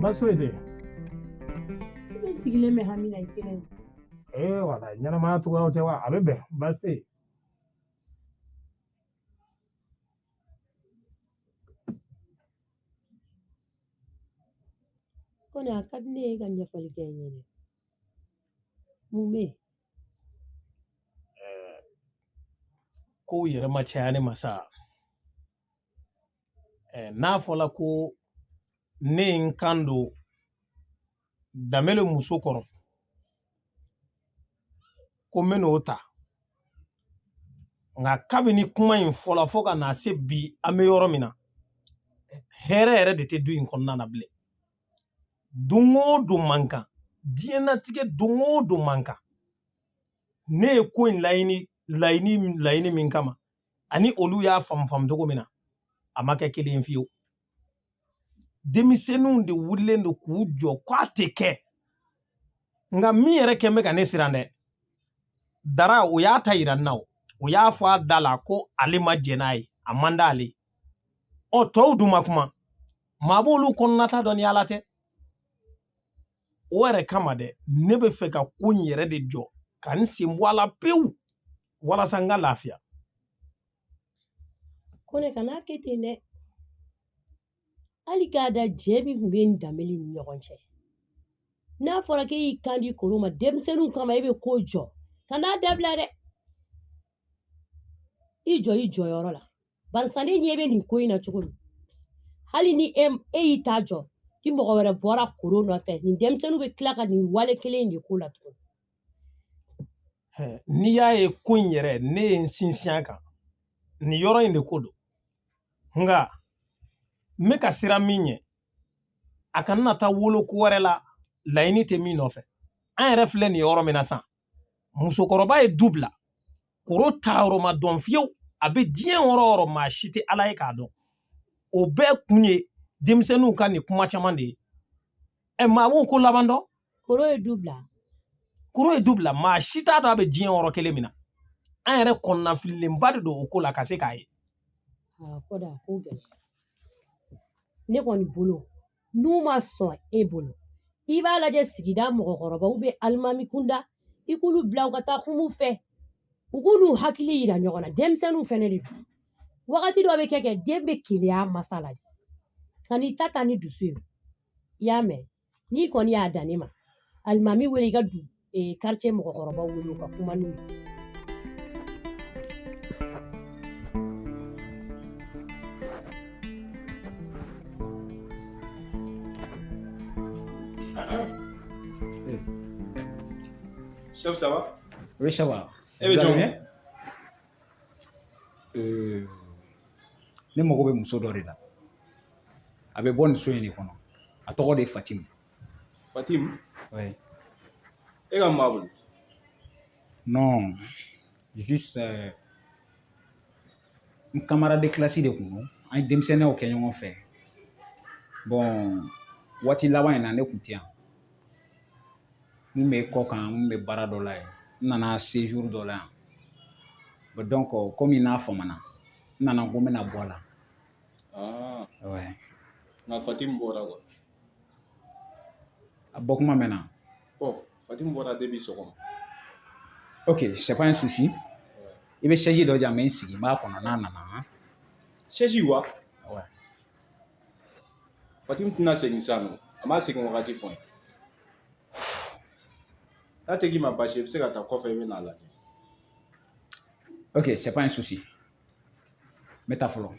baasi foyi tɛ i sigilen bɛ hami na i kelen ee wala ɲɛnamaya cogoyaw tɛ wa a bɛ bɛn baasi tɛ yen Kɔnɛ a ka di ne ye ka ɲɛfɔli kɛ n ye dɛ. Mun bɛ yen? Ɛɛ kow yɛrɛ ma caya ne ma sa. Ɛɛ n'a fɔla ko ne ye n kan don danbele muso kɔrɔ ko n bɛn'o ta nka kabini kuma in fɔla fo ka na se bi an bɛ yɔrɔ min na hɛrɛ yɛrɛ de tɛ du in kɔnɔna na bilen don o don man kan diɲɛnatigɛ don o don man kan ne ye ko in laɲini laɲini laɲini min kama ani olu y'a faamu faamu cogo min na a ma kɛ kelen ye fiyewu denmisɛnninw de wulilen don k'u jɔ k'a tɛ kɛ nka min yɛrɛ kɛlen bɛ ka ne siran dɛ dara o y'a ta yira n na o o y'a fɔ a da la ko ale ma jɛn n'a ye a man d'ale ɔ tɔw dun ma kuma maa b'olu kɔnɔnata dɔn ni ala tɛ o yɛrɛ kama dɛ ne bɛ fɛ ka ko in yɛrɛ de jɔ ka n sen bɔ a la pewu walasa n ka lafiya kɔnɛ kan'a kɛ ten dɛ hali k'a da jɛ min tun b'i ni danbele ni ɲɔgɔn cɛ n'a fɔra k'e y'i kan di koro ma denmisɛnninw kama e bɛ ko jɔ kan'a dabila dɛ i jɔ i jɔyɔrɔ la barisa ne ɲɛ bɛ nin ko in na cogo min hali ni e e y'i ta jɔ ni mɔgɔ wɛrɛ bɔra koro nɔfɛ nin denmisɛnninw bɛ tila ka nin wale kelen in de k'o la tuguni n'i y'a ye ko in yɛrɛ ne ye n sinsin a kan nin yɔrɔ in de ko don nka n bɛ ka siran min ɲɛ a kana na taa wolo ko wɛrɛ la laɲini tɛ min nɔfɛ an yɛrɛ filɛ nin yɔrɔ min na sisan musokɔrɔba ye du bila koro taayɔrɔ ma dɔn fiyewu a bɛ diɲɛ yɔrɔ o yɔrɔ maa si tɛ ala ye k'a dɔn o bɛɛ kun ye denmisɛnninw ka nin kuma caman de ye ɛ maa b'o ko laban dɔn koro ye du bila koro ye du bila maa si t'a dɔn a bɛ diɲɛ yɔrɔ kelen min na an yɛrɛ kɔnɔnafililenba de don o ko la ka se k'a ye ne kɔni bolo n'u ma sɔn e bolo i b'a lajɛ sigida mɔgɔkɔrɔbaw bɛ alimami kunda i k'olu bila u ka taa kum'u fɛ u k'u n'u hakili yira ɲɔgɔn na denmisɛnninw fɛnɛ de don wagati dɔ bɛ kɛ kɛ den bɛ keleya masa la de kan'i ta ta ni dusu ye i y'a mɛn n'i kɔni y'a dan ne ma alimami wele i ka du quartier mɔgɔkɔrɔbaw wele u ka kuma n'u ye ça va e bɛ jɔn ne mago bɛ muso dɔ de la a bɛ bɔ nin so in de kɔnɔ a tɔgɔ de ye fatim Fatim. Oui. E ka maa bolo Non. Juste. Euh, n camarade de classe de kun don an ye denmisɛnninyaw kɛ ɲɔgɔn fɛ bon waati laban in na ne kun tɛ yan n kun bɛ kɔkan n kun bɛ baara dɔ la yen n nana séjour dɔ la yan bon donc komi n'a famana n nana ko n bɛna bɔ a la ah. ouais. nka fatim bɔra quoi A bɔ kuma mɛnna. Bon Fatim bɔra depuis sɔgɔma. Ok c'est pas un souci i bɛ chaise dɔ di yan n bɛ n sigi n b'a kɔnɔ n'a nana. Chaise wa? Ouais. Fatim tɛna segin sisan nɔ a ma segin wagati fɔ n ye. N'a tɛ k'i ma baasi ye i bɛ se ka taa kɔfɛ i bɛ n'a lajɛ. Ok c'est pas un souci n bɛ taa fɔlɔ.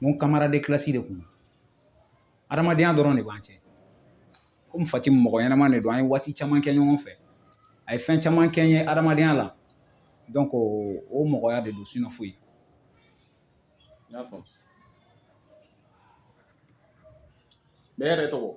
n ko camarade de classe de kun don adamadenya dɔrɔn de b'an cɛ komi fatim mɔgɔ ɲɛnama de don an ye waati caman kɛ ɲɔgɔn fɛ a ye fɛn caman kɛ n ye adamadenya la donc o mɔgɔya de don sinon foyi n y'a faamu e yɛrɛ tɔgɔ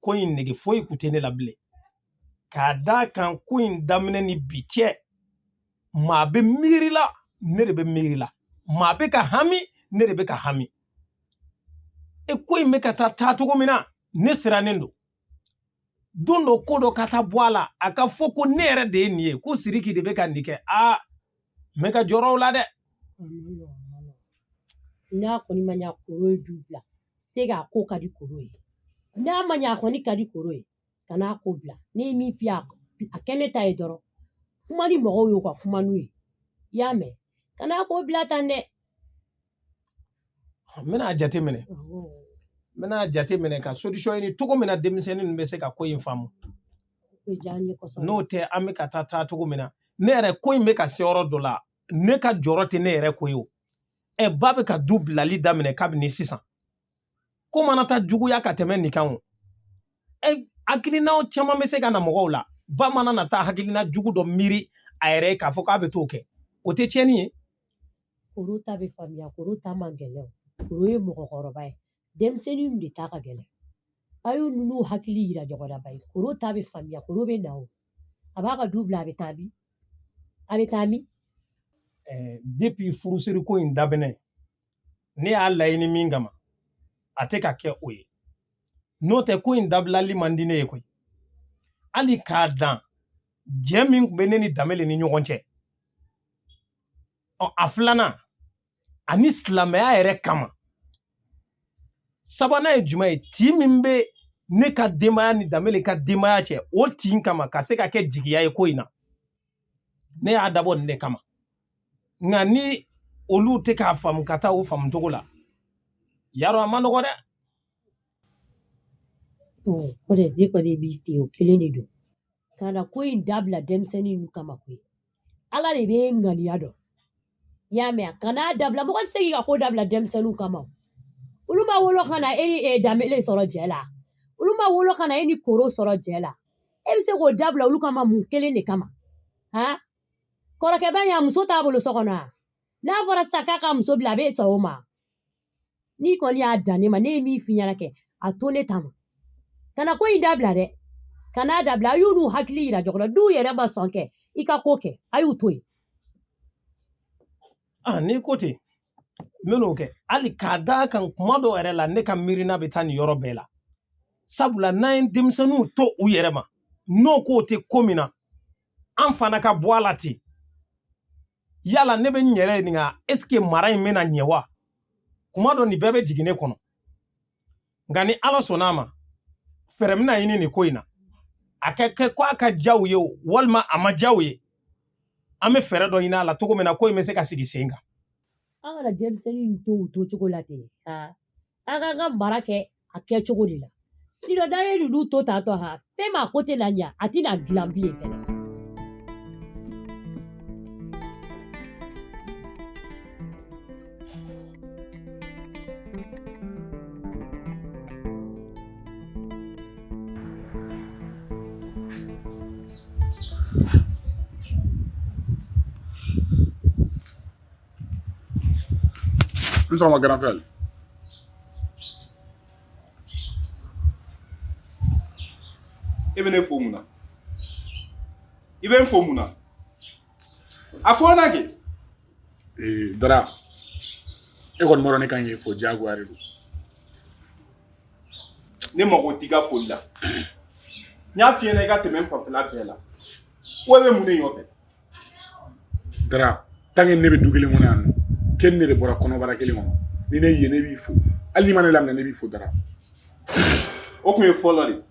ko in nege foyi kun tɛ ne la bilen k'a d'a kan ko in daminɛ ni bi cɛ maa bɛ miiri la ne de bɛ miiri la maa bɛ ka hami ne de bɛ ka hami e ko in bɛ ka taa taa cogo min na ne sirannen don don dɔ ko dɔ ka taa bɔ a la a ka fɔ ko ne yɛrɛ de ye nin ye ko siriki de bɛ ka nin kɛ aa n bɛ ka jɔrɔ o la dɛ n'a kɔni ma ɲa koro ye du bila se k'a ko ka di koro ye n'a ma ɲa a kɔni ka di koro ye kan'a ko bila ne ye min f'i ye a kɛ ne ta ye dɔrɔn kuma ni mɔgɔw y'u ka kuma n'u ye i y'a mɛn kan'a ko bila tan dɛ n bɛna a jate minɛ n bɛna a jate minɛ ka solution ɲini cogo min na denmisɛnnin ninnu bɛ se ka ko in faamu n'o tɛ an bɛ ka taa taa cogo min na ne yɛrɛ ko in bɛ ka se yɔrɔ dɔ la ne ka jɔrɔ tɛ ne yɛrɛ ko ye o ɛ ba bɛ ka du bilali daminɛ kabini sisan ko mana taa juguya ka tɛmɛ nin kan o hakilinaw caman bɛ se ka na mɔgɔw la ba mana na taa hakilina jugu dɔ miiri a yɛrɛ ye k'a fɔ k'a bɛ t'o kɛ o tɛ tiɲɛni ye koro ta bɛ faamuya koro ta man gɛlɛn koro ye mɔgɔkɔrɔba ye denmisɛnninw de ta ka gɛlɛn a y'u n'u hakili yira ɲɔgɔn na bayi koro ta bɛ faamuya koro bɛ na o a b'a ka du bila a bɛ taa min a bɛ taa min depuis furusiri ko in daminɛ ne y'a laɲini min kama a tɛ ka kɛ o ye n'o tɛ ko in dabilali man di ne ye koyi hali k'a dan jɛ min tun bɛ ne ni danbele ni ɲɔgɔn cɛ ɔ a filanan ani silamɛya yɛrɛ kama sabanan ye jumɛn ye tin min bɛ ne ka denbaya ni danbele ka denbaya cɛ o tin kama ka se ka kɛ jigiya ye ko in na ne y'a dabɔ nin de kama nka ni olu tɛ k'a faamu ka taa o faamu cogo la yarɔ a ma nɔgɔ dɛ o de ne kɔni b'i fɛ o kelen de don kana ko in dabila denmisɛnnin ninnu kama koyi ala de bɛ ŋaniya dɔn i y'a mɛn a kana a dabila mɔgɔ tɛ se k'i ka ko dabila denmisɛnninw kama o. olu ma wolo ka na e ni danbele sɔrɔ jɛ la olu ma wolo ka na e ni koro sɔrɔ jɛ la e bɛ se k'o dabila olu kama mun kelen de kama han kɔrɔkɛba in a muso t'a bolo so kɔnɔ a n'a fɔra sisan k'a ka muso bila a bɛ sɔn o ma n'i kɔni y'a dan ne ma ne ye min f'i ɲɛna kɛ a to ne ta ma kana ko in dabila dɛ kan'a dabila a y'u n'u hakili yira ɲɔgɔn na n'u yɛrɛ ma sɔn kɛ i ka ko kɛ a y'u to yen a ah, n'i ko ten n bɛn'o kɛ hali k'a d'a kan kuma dɔw yɛrɛ la ne ka miirina bɛ taa nin yɔrɔ bɛɛ la sabula n'an ye denmisɛnninw to u yɛrɛ ma n'o k'o tɛ ko min na an fana ka bɔ a la ten yala ne bɛ n yɛrɛ ɲininka est-ce que mara in bɛna ɲɛ wa kuma dɔ nin bɛɛ bɛ jigin ne kɔnɔ nka ni ala sɔnna a ma fɛɛrɛ bɛna ɲini nin ko in na a ka kɛ ko a ka diya u ye o walima a ma diya u ye an bɛ fɛɛrɛ dɔ ɲini a la cogo min na ko in bɛ se ka sigi sen kan an kana denmisɛnnin to u to cogo la ten ka an k'an ka mara kɛ a kɛ cogo de la sinon n'an ye ninnu to tantɔ ha fɛn ma ko tɛna ɲa a tɛna dilan bilen fɛnɛ N sɔgɔma grand frère e bɛ ne fo mun na i bɛ n fo mun na a fɔ na kɛ ee dara e kɔni b'a dɔn ne kan k'i fo diyagoya de don ne mago t'i ka foli la n y'a f'i ɲɛna i ka tɛmɛ n fanfɛla bɛɛ la ko e bɛ mun de nɔfɛ dara tant que ne bɛ du kelen kɔnɔ yan nɔ k'e ni ne de bɔra kɔnɔbara kelen kɔnɔ ni ne ye ne b'i fo hali n'i ma ne laminɛ ne b'i fo dara o tun ye fɔlɔ de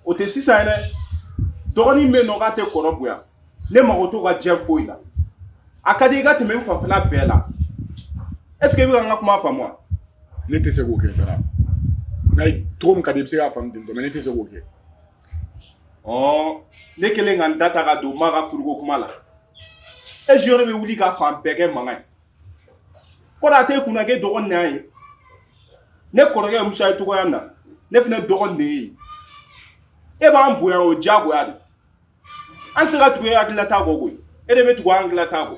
o tɛ sisan ye dɛ dɔgɔnin bɛ yen nɔ k'a tɛ kɔrɔ bonya ne mago t'o ka diɲɛ foyi la a ka di i ka tɛmɛ n fanfɛla bɛɛ la est ce que i bɛ ka n ka kuma faamu wa ne tɛ se k'o kɛ dara n'a ye cogo min ka di i bɛ se k'a faamu ten tɔ mais ne tɛ se k'o kɛ ɔ ne kɛlen ka n da ta ka don maa ka furuko kuma la e jiyɔrɔ bɛ wuli ka fan bɛɛ kɛ mankan ye kɔrɔ a t'e kunna k'e dɔgɔnin na ye ne kɔrɔkɛ musa ye cogoya min na ne fana dɔgɔnin de y'e ye e b'an bonya o diyagoya de an tɛ se ka tugu e hakililata kɔ koyi e de bɛ tugu an hakililata kɔ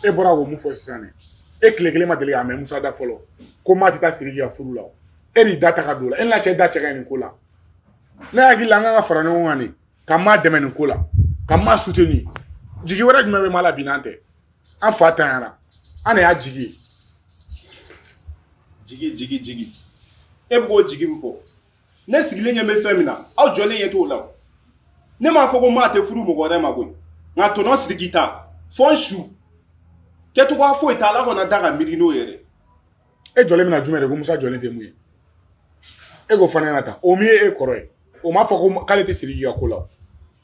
e bɔra k'o mun fɔ sisan dɛ e tile kelen ma deli k'a mɛn musa da fɔlɔ ko maa tɛ taa siriki ka furu la o e de y'i da ta ka don o la e n'a cɛ da cɛ ka ɲi nin ko la ne hakili la an kan ka fara ɲɔgɔn kan de ka maa dɛmɛ nin ko la ka maa soutenir jigi wɛrɛ jumɛn bɛ maa la bi n'an tɛ an fa tanyara an de y'a jigi ye jigi jigi jigi e bɛ k'o jigi min fɔ ne sigilen ɲɛ bɛ fɛn min na aw jɔlen ɲɛ t'o la ne m'a fɔ ko maa tɛ furu mɔgɔ wɛrɛ ma koyi nka tɔntɔn siriki ta fo n su kɛcogoya foyi t'a la kana da ka miiri n'o yɛrɛ e jɔlen bɛna jumɛn de ko musa jɔlen tɛ mun ye e k'o f'an ɲɛna tan o min ye e kɔrɔ ye o m'a fɔ ko k'ale tɛ siriki ka ko la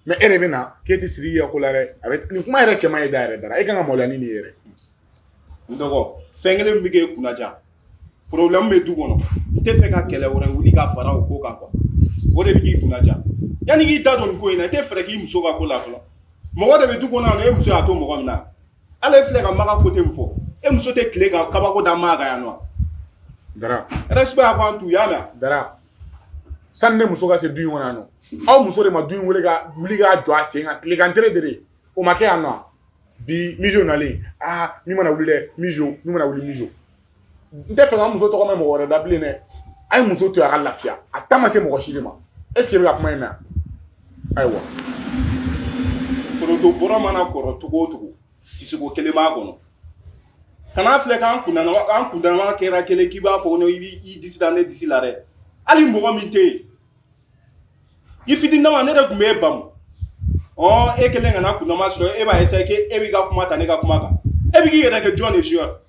mais e de bɛ na k'e tɛ siriki ka ko la dɛ a bɛ nin kuma yɛrɛ cɛman ye da yɛrɛ dara e kan ka maloya ni nin yɛrɛ n dɔgɔ fɛn kelen min bɛ k'e kunnadiya problème bɛ du kɔnɔ n tɛ fɛ ka kɛlɛ wɛrɛ wuli ka fara o ko kan quoi o de bɛ k'i kunnadiya yanni k'i da don nin ko in na i tɛ fɛɛrɛ k'i muso ka ko la fɔlɔ mɔgɔ de bɛ du kɔnɔ yan nɔ e muso y'a to mɔgɔ min na ala filɛ ka maga côté min fɔ e muso tɛ tile ka kabako da maa kan yan nɔ dara respect avant tout y'a mɛn dara sani ne muso ka se du in kɔnɔ yan nɔ aw muso de ma du in wele ka wuli k'a jɔ a sen kan tilegan tere de o ma kɛ yan nɔ bi mijo nalen aa min mana wuli dɛ mijo min mana wuli mijo n tɛ fɛ ka muso tɔgɔ mɛn mɔgɔ wɛrɛ da bilen dɛ a ye muso to a ka lafiya a ta ma se mɔgɔ si de ma est ce que i bɛ ka kuma in mɛn ayiwa foronto bɔrɔ mana kɔrɔ cogo o cogo tisoko kelen b'a kɔnɔ kan'a filɛ k'an kundama kɛra kelen k'i b'a fɔ ko i b'i disi da ne disi la dɛ hali mɔgɔ min tɛ yen i fitini dama ne de kun b'e bamu ɔ e kelen kana kundama sɔrɔ e b'a essayer que e b'i ka kuma ta ne ka kuma kan e bɛ k'i yɛrɛ kɛ jɔn de junior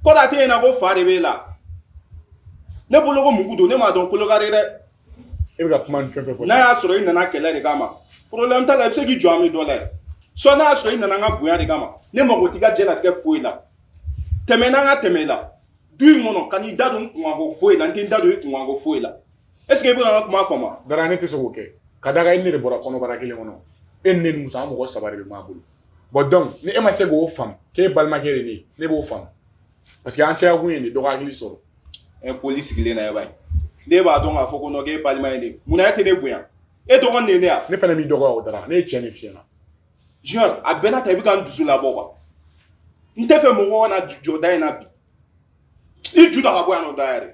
ko da tɛ yen na ko fa de b'e la ne bolo ko mugu don ne m'a dɔn kolokari dɛ e bɛ ka kuma ni fɛn fɛn fɔ n'a y'a sɔrɔ i nana kɛlɛ de kama problème t'a la i bɛ se k'i jɔ an bɛ dɔ la ye soit n'a y'a sɔrɔ i nana an ka bonya de kama ne mago t'i ka diɲɛlatigɛ foyi la tɛmɛ n na n ka tɛmɛ i la du in kɔnɔ kan'i da don n kunkanko foyi la n tɛ n da don i kunkanko foyi la est-ce que i bɛ ka n ka kuma faamu dara ne tɛ se k'o kɛ ka da kan e ni ne de bɔra kɔnɔbara kelen kɔnɔ e ni ne ni muso an mɔgɔ saba de bɛ maa bolo bon donc ni e ma se k'o faamu k'e balimakɛ de ye ne b'o faamu parce que an cɛya kun ye nin dɔgɔ hakili sɔrɔ impoli sigilen na e b'a ye ne b'a dɔn k'a fɔ ko nɔ k'e balima ye de munna e tɛ ne bonya e dɔgɔnin de ne yan ne fana b'i dɔgɔya o dara ne ye tiɲɛ de f'i ɲɛ na junior a bɛɛ n'a ta i bɛ ka n dusu labɔ quoi n tɛ fɛ mɔgɔ kana jɔ da in na bi i ju ta ka bɔ yan nɔ da yɛrɛ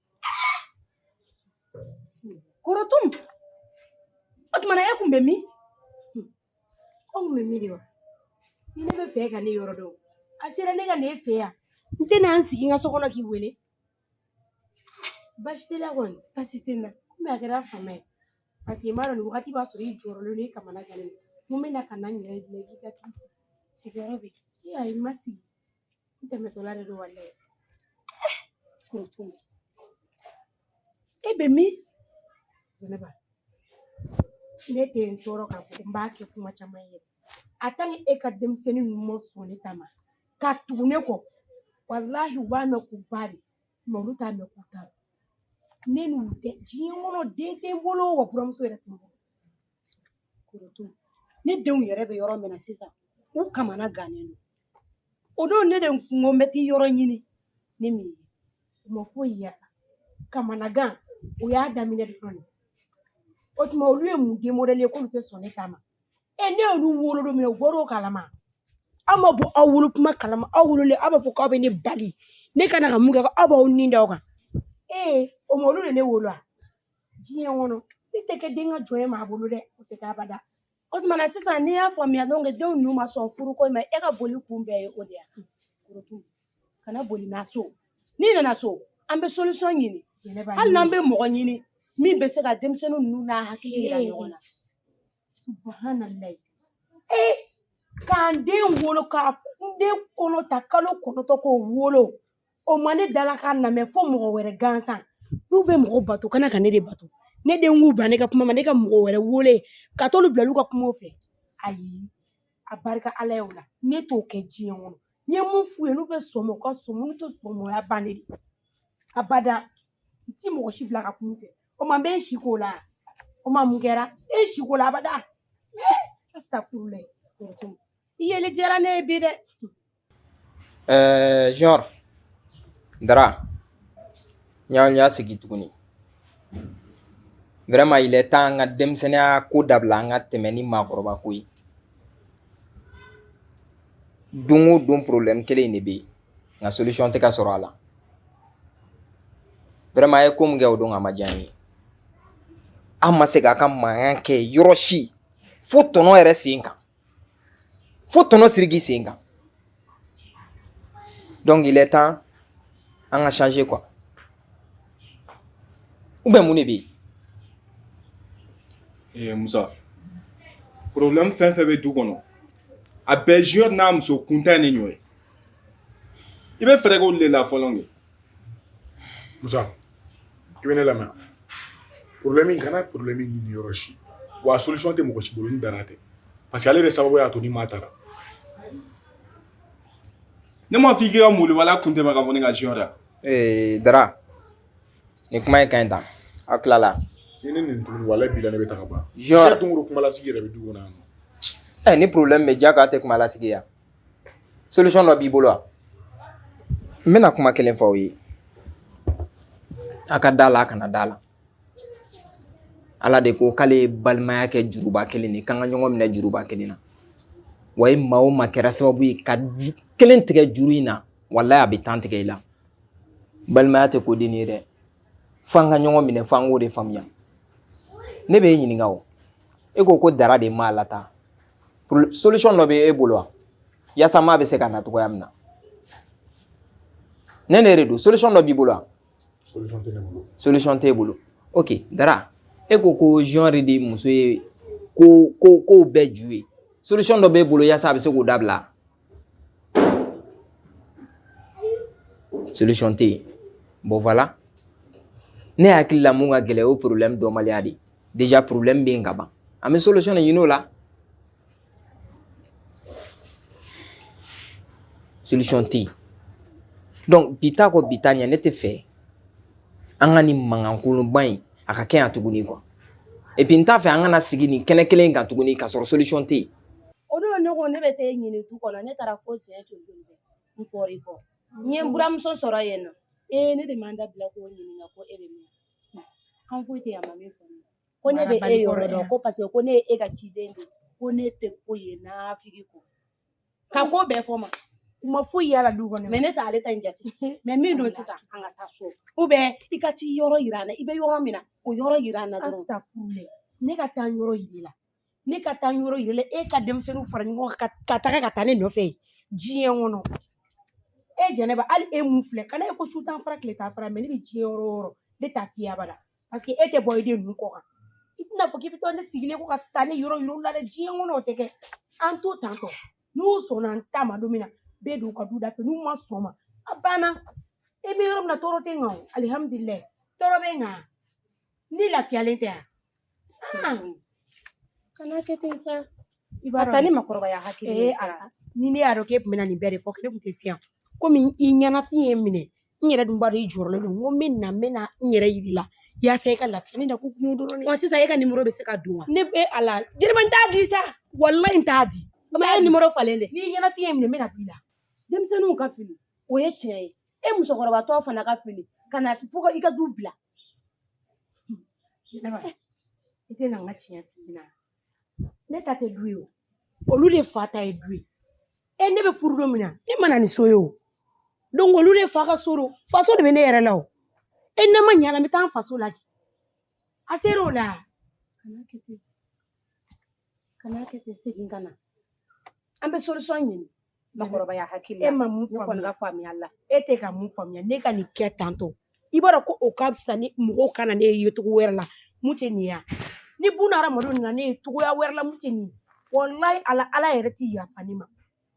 Korotum. O tuma na e kun bɛ min? Ko n kun bɛ min de wa? Ni ne bɛ fɛ ka ne yɔrɔ dɔn, a sera ne ka na e fɛ yan. N tɛna n sigi n ka so kɔnɔ k'i wele. Baasi t'i la kɔni? Baasi tɛ n na. Komi a kɛra fama ye, parce que n b'a dɔn nin wagati b'a sɔrɔ i jɔrɔlen don i kamana gannen don. N ko n bɛna ka na n yɛrɛ bila i k'i ka sigi. Sigiyɔrɔ bɛ yen. Ee ayi n ma sigi. tɛmɛtɔla de don walahi korotu e bɛ min jɛnɛba ne tɛ n tɔɔrɔ k'a fɔ n b'a kɛ kuma caman ye en tant que e ka denmisɛnnin ninnu ma sɔn ne ta ma ka tugu ne kɔ walahi u b'a mɛn k'u ba de mais olu t'a mɛn k'u ta don ne n'u tɛ diɲɛ kɔnɔ den tɛ n bolo wa buramuso yɛrɛ tɛ n bolo korotu ne denw yɛrɛ bɛ yɔrɔ min na sisan u kamana gannen don o don ne de kun ko n bɛ taa i yɔrɔ ɲini ni n m'i ye u ma foyi y'a la kamanagan o y'a daminɛ dɔrɔn de o tuma olu ye mun den modɛli ye k'olu tɛ sɔn ne ta ma e ne y'olu wolo don min na u bɔra o kalama aw ma bɔ aw wolo kuma kalama aw wololen aw b'a fɔ k'aw bɛ ne bali ne ka na ka mun kɛ ko aw b'aw ni da o kan ee o ma olu de ne wolo wa diɲɛ kɔnɔ ne tɛ kɛ den ka jɔn ye maa bolo dɛ o tɛ kɛ abada O tuma na sisan ne y'a faamuya donc denw ninnu ma sɔn furu ko in ma e ka boli kun bɛɛ ye o de ye wa korotu kana boli na so n'i nana so an bɛ solution ɲini jɛnɛba hali n'an bɛ mɔgɔ ɲini min bɛ se ka denmisɛnnin ninnu n'a hakili yira ɲɔgɔn na subahanallahi ee ka n den wolo ka n den kɔnɔ ta kalo kɔnɔntɔn k'o wolo o ma ne dala k'a lamɛn fo mɔgɔ wɛrɛ gansan n'u bɛ mɔgɔ bato kana ka ne de bato ne den k'u bila ne ka kuma ma ne ka mɔgɔ wɛrɛ wele ka t'olu bila olu ka kumaw fɛ ayi a barika ala ye o la ne t'o kɛ diɲɛ kɔnɔ n ye mun f'u ye n'u bɛ sɔn ma u ka sɔn ma n'u tɛ sɔn ma o y'a bannen de ye abada n ti mɔgɔ si bila ka kuma u fɛ o ma n bɛ n si k'o la o ma mun kɛra e si k'o la abada astafurulayi i yeli diyara ne ye bi dɛ Ɛɛ junior dara n y'an y'a sigi tuguni vraiment il est temps an ka denmisɛnninya ko dabila an ka tɛmɛ ni maakɔrɔba ko ye don o don problème kelen in de bɛ yen nka solution tɛ ka sɔrɔ a la vraiment a ye ko min kɛ o don a ma diya n ye a ma se k'a ka mankan kɛ yɔrɔ si fo tɔnɔ yɛrɛ sen kan fo tɔnɔ siriki sen kan donc il est temps an ka changer quoi ou bien mun de bɛ yen. ee musa problème fɛn fɛn bɛ du kɔnɔ a bɛɛ junior n'a muso kuntan in de nɔ ye i bɛ fɛɛrɛ k'olu de la fɔlɔ de. Musa i bɛ ne lamɛn problème kana problème ɲini yɔrɔ si wa solution tɛ mɔgɔ si bolo ni dara tɛ parce que ale de sababu y'a to ni maa taara ne m'a fɔ i k'i ka moli wala kun tɛmɛ ka bɔ ne ka junior la ee dara nin kuma in ka ɲi tan aw tilala ni ne nin tuguni walayi bilayi ne bɛ taga ban junior dunkuru kumalasigi yɛrɛ bɛ du kɔnɔ yan nɔ ɛ ni problème bɛ ja k'a tɛ kumalasigi yan solution dɔ b'i bolo wa n bɛna kuma kelen fɔ aw ye a ka da la a kana da la ala de ko k'ale ye balimaya kɛ juruba kelen de k'an ka ɲɔgɔn minɛ juruba kelen na wa ye maa o maa kɛra sababu ye ka kelen tigɛ juru in na walayi a bɛ tan tigɛ i la balimaya tɛ ko dennin ye dɛ fo an ka ɲɔgɔn minɛ fo an k'o de faamuya ne bɛ e ɲininka o e ko ko dara de maa lataa solution dɔ bɛ e bolo wa yaasa maa bɛ se ka na cogoya min na ne ne de don solution dɔ b'i bolo wa solution tɛ ne bolo solution t'e bolo ok dara e ko ko junior de muso ye ko bɛɛ ju ye solution dɔ b'e bolo yaasa a bɛ se k'o dabila solution tɛ yen bon voilà ne hakili la mun ka gɛlɛn o ye problème dɔnbaliya de ye déjà problème bɛ yen ka ban an bɛ solution de ɲini o la solution tɛ yen donc bi ta kɔ bi ta ɲɛ ne t'a fɛ an ka nin mankankolonba in a ka kɛ yan tuguni quoi et puis n t'a fɛ an kana sigi nin kɛnɛ kelen in kan tuguni k'a sɔrɔ solution tɛ yen o don ne ko ne bɛ taa e ɲini du kɔnɔ ne taara fo siɲɛ joli n fɔr'i kɔ n ye n buramuso sɔrɔ yen nɔ ee ne de ma n da bila k'o ɲininka ko e bɛ min kan foyi tɛ yan ma min fɔ ko ne bɛ e yɔrɔ dɔn ko parce que ko ne ye e ka ciden de ko ne tɛ foyi ye nafigi kɔ ka ko bɛɛ fɔ ma kuma foyi yala du kɔnɔ mais ne t'ale ta in jate mais min don sisan an ka taa so ou bien i ka t'i yɔrɔ yira an na i bɛ yɔrɔ min na o yɔrɔ yira an na dɔrɔn ne ka taa yɔrɔ yiri la ne ka taa yɔrɔ yira la e ka denmisɛnninw fara ɲɔgɔn kan ka taga ka taa ne nɔfɛ diɲɛ kɔnɔ e jɛnɛba hali e mun filɛ kana e ko su t'an fara tile t'an fara mais ne bɛ diɲɛ yɔrɔ o yɔrɔ ne t'a f'i ye abada parce que e tɛ bɔ i den ninnu kɔ kan i tɛna fɔ k'i bɛ to ne sigilen ko ka taa ne yɔrɔ yira u la dɛ diɲɛ kɔnɔ o tɛ kɛ an to tantɔ n'u sɔnna n ta ma don min na n bɛ don u ka du da fɛ n'u ma sɔn ma a banna e bɛ yɔrɔ min na tɔɔrɔ tɛ n kan o alihamudulila tɔɔrɔ bɛ n kan Ne lafiyalen tɛ yan kana kɛ ten sa i b'a ta ni makɔrɔbaya hakili ye sa ni ne y'a dɔn k'e tun bɛna nin bɛɛ de fɔ ne tun tɛ se yan komi i ɲɛnafin ye n minɛ n yɛrɛ dun b'a dɔn i jɔrɔlen don n ko n bɛ na n bɛ na n yɛrɛ yir'i la yaasa e ka lafiya ne da ko kun dɔrɔn wa sisan e ka nimoro bɛ se ka di n ma ne bɛ a la jɛnɛba n t'a di sa walayi n t'a di bawo ne ye nimoro falen dɛ n'i ɲɛnafin ye n minɛ n bɛ na b'i la denmisɛnninw ka fili o ye tiɲɛ ye e musokɔrɔbatɔ fana ka fili ka na fo ka i ka du bila Jɛnɛba i tɛ na n ka tiɲɛ f'i ɲɛna ne ta tɛ du ye o olu de fa ta ye du ye e ne bɛ furu don min na ne ma na ni so ye o donc olu de fa ka so don faso de bɛ ne yɛrɛ la o e n'a ma ɲa la n bɛ taa n faso lajɛ a ser'o la kana kɛ ten kana kɛ ten segin ka na an bɛ solution ɲini makɔrɔbaya hakili la e ma mun faamuya ne kɔni ka faamuya la e tɛ ka mun faamuya ne ka nin kɛ tantɔ i b'a dɔn ko o ka fisa ni mɔgɔw ka na ne ye cogo wɛrɛ la min tɛ nin ye ni buna hadamadenw nana ne ye cogoya wɛrɛ la min tɛ nin ye walayi ala ala yɛrɛ tɛ yafa ne ma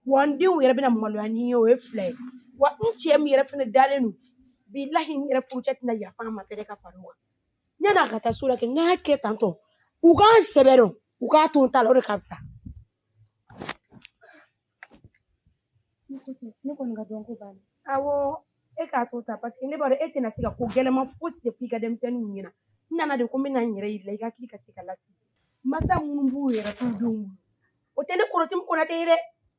wa n denw yɛrɛ bɛna maloya ni ye o ye fila ye wa n cɛ min yɛrɛ fana dalen don bilahi n yɛrɛ furucɛ tɛna yafa n ma fɛnɛ ka fara o kan yanni a ka taa s'o la kɛ n k'a kɛ tantɔ u ka n sɛbɛ dɔn u k'a to n ta la o de ka fisa ne ko ten ne kɔni ka dɔnko banna awɔ e k'a to tan parce que ne b'a dɔn e tɛna se ka ko gɛlɛnma fosi de fɔ i ka denmisɛnninw ɲɛna n nana de ko n bɛna n yɛrɛ yir'i la i ka hakili ka se ka lasigi masa minnu b'u yɛrɛ t'u denw bolo o tɛ ne kɔrɔtimu konatɛ ye dɛ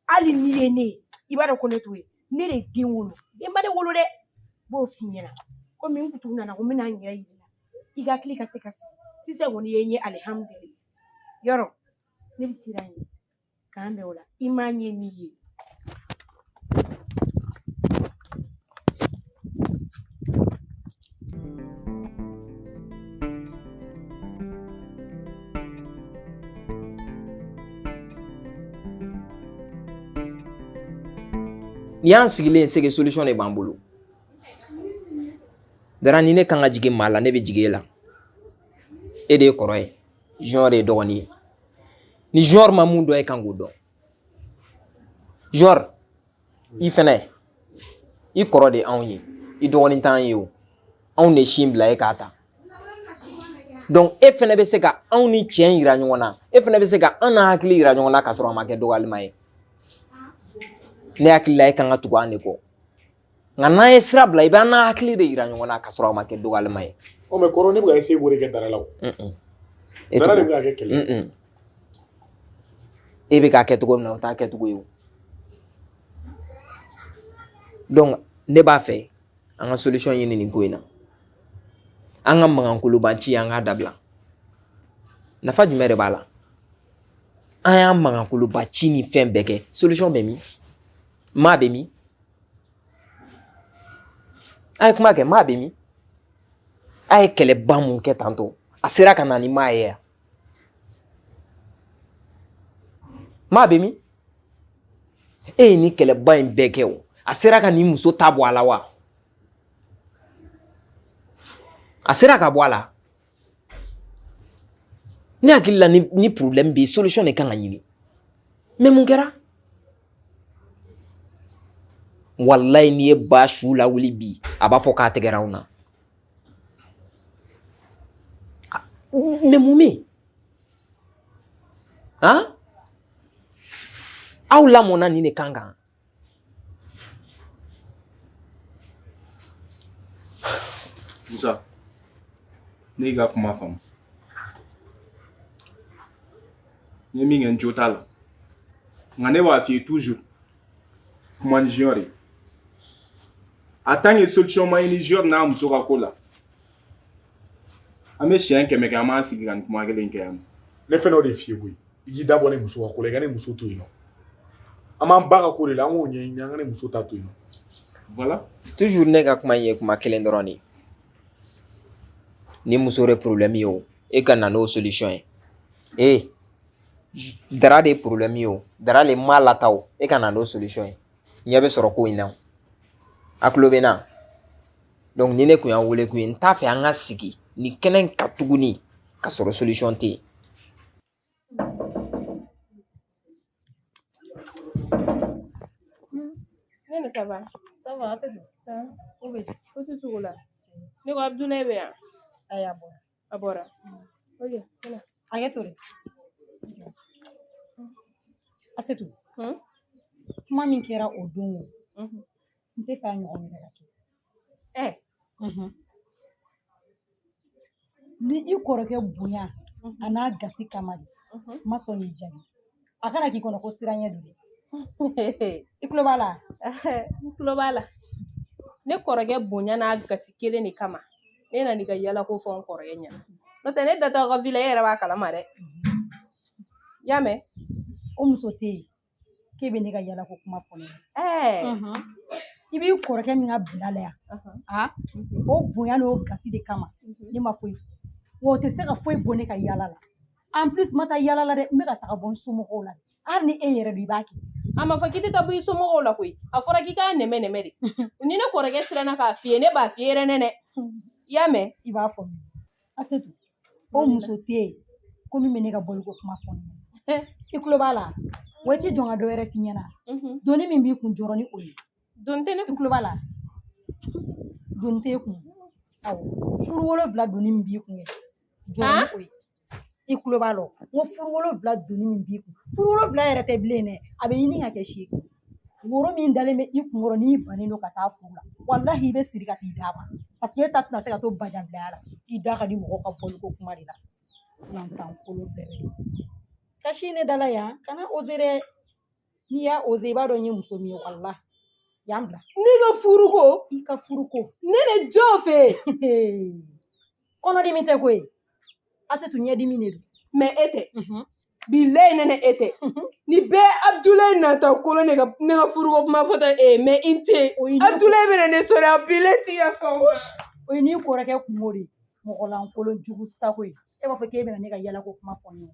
hali n'i ye ne ye i b'a dɔn ko ne t'o ye ne de den wolo den ma ne wolo dɛ n b'o f'i ɲɛna komi n kutu nana ko n bɛna n yɛrɛ yir'i la i ka hakili ka se ka sigi sisan kɔni i ye n ye alihamudulila yɔrɔ ne bɛ sira ɲini k'an bɛn o la i m'a ɲɛ n'i ye N'i y'an sigilen ye c'est que solution de b'an bolo dara ni ne kan ka jigin maa la ne bɛ jigin e la e de ye kɔrɔ ye junior de ye dɔgɔnin ye ni junior ma mun dɔn e kan k'o dɔn junior i fɛnɛ i kɔrɔ de anw ye i dɔgɔnin t'an ye o anw de sin bila e k'a ta donc e fɛnɛ bɛ se ka anw ni tiɲɛ yira ɲɔgɔn na e fɛnɛ bɛ se ka an n'an hakili yira ɲɔgɔn na k'a sɔrɔ a ma kɛ dɔgɔyalima ye ne hakili la e kan ka tugu an de kɔ nka n'an ye sira bila i bɛ an n'an hakili de yira ɲɔgɔn na k'a sɔrɔ a ma kɛ dɔgɔyalima ye o mais kɔrɔ ne bɛ ka essayer k'o de kɛ dara la o dara de bɛ ka kɛ kɛlɛ e bɛ k'a kɛ cogo min na o t'a kɛcogo ye o donc ne b'a fɛ an ka solution ɲini nin ko in na an ka mankan koloba ci an k'a dabila nafa jumɛn de b'a la an y'an mankan koloba ci ni fɛn bɛɛ kɛ solution bɛ min maa bɛ min a ye kuma kɛ maa bɛ min a ye kɛlɛba mun kɛ tantɔ a sera ka na ni maa ye yan maa bɛ min e ye nin kɛlɛba in bɛɛ kɛ o a sera ka nin muso ta bɔ a la wa a sera ka bɔ a la ne hakili la ni problème bɛ yen solution de kan ka ɲini mais mun kɛra walayi n'i ye ba su lawuli bi a b'a fɔ k'a tɛgɛra anw na Ah, mais mun bɛ yen, hein? Aw lamɔna nin de kan kan. Musa, ne y'i ka kuma faamu. N ye min kɛ n jo t'a la nka ne b'a f'i ye toujours kuma ni junior ye en tant que solution ma ɲini junior n'a muso ka ko la an bɛ siɲɛ kɛmɛ kɛ an b'an sigi ka nin kuma kelen kɛ yan nɔ ne fɛnɛ o de f'i ye koyi i k'i da bɔ ne muso ka ko la i ka ne muso to yen nɔ an b'an ba ka ko de la an k'o ɲɛɲini an ka ne muso ta to yen nɔ voilà toujours ne ka kuma in ye kuma kelen dɔrɔn de ye ni muso de problème ye o e ka na n'o solution ye ee dara de ye problème ye o dara le m'a lata o e ka na n'o solution ye ɲɛ bɛ sɔrɔ ko in na a kulo bɛ na donc ni ne kun y'a wele kun ye n t'a fɛ an ka sigi ni kɛnɛ in kan tuguni ka sɔrɔ solution tɛ yen nɛnɛ ça va ça va asetu bɛ ko tɛ cogo la ne ko abudulayi bɛ yan ayi a bɔ a bɔra oye kana a ye tore asetu hmm? kuma min kɛra o don o mhm. n t'a fɛ a ɲɔgɔn wɛrɛ ka kɛ ɛ mhm. ni i kɔrɔkɛ bonya mhm. an'a gasi kama de n ma sɔn k'i jaabi a kana k'i kɔnɔ ko siranɲɛ don dɛ i tulo b'a la n tulo b'a la ne kɔrɔkɛ bonya n'a gasi kelen de kama ne nana i ka yala ko fɔ n kɔrɔkɛ ɲɛna n'o tɛ ne datɔ ka vila e yɛrɛ b'a kalama dɛ y'a mɛn o muso tɛ yen k'e bɛ ne ka yala ko kuma fɔ ne ɲɛna i b'i kɔrɔkɛ min ka bila la yan a o bonya n'o gasi de kama ne ma foyi fɔ wa o tɛ se ka foyi bɔ ne ka yala la en plus n ma taa yala la dɛ n bɛ ka taga bɔ n somɔgɔw la hali ni e yɛrɛ don i b'a kɛ a ma fɔ k'i tɛ taa bɔ i somɔgɔw la koyi a fɔra k'i k'a nɛmɛ nɛmɛ de ni ne kɔrɔkɛ siranna k'a f'i ye ne b'a f'i ye yɛrɛ nɛnɛ i y'a mɛn i b'a fɔ asetu o muso tɛ yen ko min bɛ ne ka bɔliko kuma fɔ ne ɲɛna. i tulo b'a la wa i tɛ jɔn ka dɔ wɛrɛ f'i ɲɛna doni min b'i kun jɔrɔ ni o ye doni tɛ ne i tulo b'a la doni t'e kun awɔ furu wolonwula doni min b'i kun kɛ jɔrɔ ko ye i kulo b'a la n ko furu wolonwula doni min b'i kun furu wolonwula yɛrɛ tɛ bilen dɛ a bɛ ɲini ka kɛ seegin woro min dalen bɛ i kunkɔrɔ n'i bannen don ka taa furu la walahi i bɛ siri ka t'i d'a ma parce que e ta tɛna se ka to bajanbilaya la i da ka di mɔgɔ ka bɔliko kuma de la lantan kolo bɛɛ bɛ kasi ne dala yan kana oser dɛ n'i y'a oser i b'a dɔn n ye muso min ye walahi yan bila ne ka furuko i ka furuko nɛnɛ jɔ fɛ kɔnɔdimi tɛ koyi asetu ɲɛdimi de don mais e tɛ mhm. bilayi nɛnɛ e tɛ mhm. ni bɛɛ abudulayi nata kolon ne ka ne ka furuko kuma fɔ tɛ ee mais i tɛ abudulayi bɛna ne sɔrɔ yan bilayi ti ka fɛn o ye n'i kɔrɔkɛ kunko de ye mɔgɔlankolon jugu sago ye e b'a fɔ k'e bɛna ne ka yalako kuma fɔ ne ye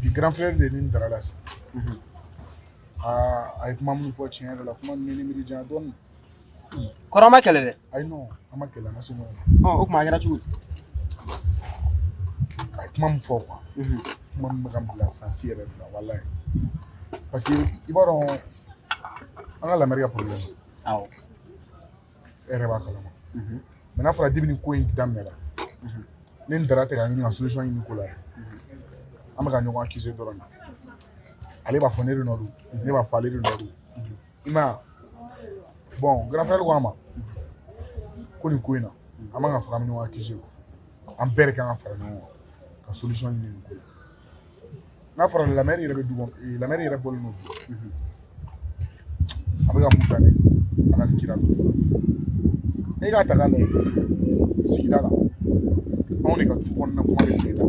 bi grand frère de ni dara la sisan a ye kuma minnu fɔ tiɲɛ yɛrɛ la kuma ninnu ni miiri janya dɔɔnin kɔrɔ aw ma kɛlɛ dɛ ayi non an ma kɛlɛ an ka se ɲɔgɔn ma ɔ o tuma a kɛra cogo di a ye kuma min fɔ quoi kuma min bɛ ka n bila sansi yɛrɛ de la walayi parce que i b'a dɔn an ka la mère ka problème awɔ e yɛrɛ b'a kalama mais n'a fɔra depuis ni ko in daminɛra ne ni dara tɛ ka ɲini ka solution ɲini ko la an bɛ ka ɲɔgɔn accuser dɔrɔn de ale b'a fɔ ne de nɔ don ne b'a fɔ ale de nɔ don i ma bon grand frère ko a ma ko nin ko in na an man ka fara an bɛ ɲɔgɔn accuser an bɛɛ de kan ka fara ɲɔgɔn kan ka solution ɲini nin ko la n'a fɔra la mère yɛrɛ bɛ du kɔnɔ la mère yɛrɛ bɔlen don a bɛ ka mun ta ne ala ni kira e k'a ta k'a lajɛ sigida la anw de ka du kɔnɔna kuma bɛ kile la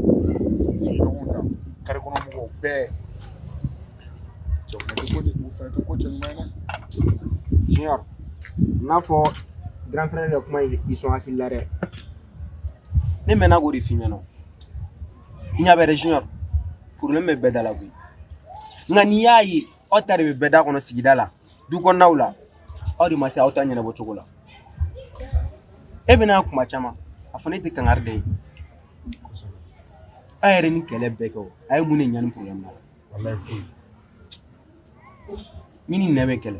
sigiɲɔgɔnw ta kare kɔnɔ mɔgɔw bɛɛ o fana tɛ ko de o fana tɛ ko cɛ ɲuman ye dɛ junior n'a fɔ grand frère ka kuma in i sɔn hakili la dɛ ne mɛnna k'o de f'i ɲɛna n ɲa bɛ junior problème bɛ bɛɛ da la koyi nka n'i y'a ye aw ta de bɛ bɛɛ da kɔnɔ sigida la du kɔnɔnaw la aw de ma se aw ta ɲɛnabɔ cogo la e bɛna kuma caman a fɔ ne tɛ kangari da ye a yɛrɛ ni kɛlɛ bɛɛ kɛ o a ye mun de ɲa nin problème na walayi foyi min ni ne bɛ kɛlɛ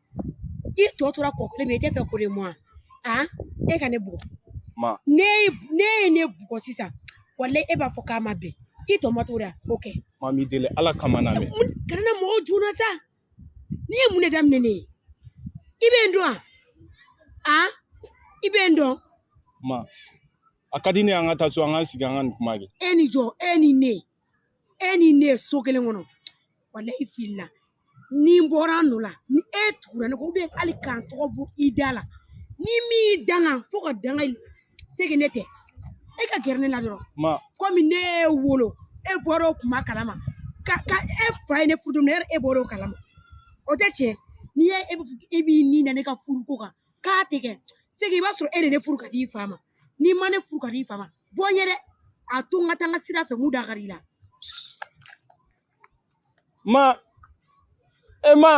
i tɔ tora ko kelen ma i t'a fɛ k'o de mɛn wa aa e ka ne bugɔ ma ne ye ne bugɔ sisan walayi e b'a fɔ k'a ma bɛn i tɔ ma t'o la o kɛ ma n b'i deli ala kama na mɛn kana na mɔgɔw juna sa n'i ye mun de daminɛ ne ye i bɛ n dɔn wa aa i bɛ n dɔn ma a ka di ne an ka taa so an ka sigi an ka nin kuma kɛ e ni jɔn e ni ne e ni ne ye so kelen kɔnɔ walayi filila ni n bɔra n nɔ la ni e tugura ne kɔ ou bien hali k'an tɔgɔ bɔ i da la ni min y'i danga fo ka danga i segi ne tɛ e ka gɛrɛ ne la dɔrɔn komi ne y'e wolo e bɔra o kuma kalama ka ka e fa ye ne furu don e bɔra o kalama o tɛ tiɲɛ n'i ye e b'i ni na ne ka furu ko kan k'a tɛ kɛ c'est que i b'a sɔrɔ e de ne furu ka di i fa ma n'i ma ne furu ka di i fa ma bɔ n ye dɛ a to n ka taa n ka sira fɛ mun dakari i la ma e ma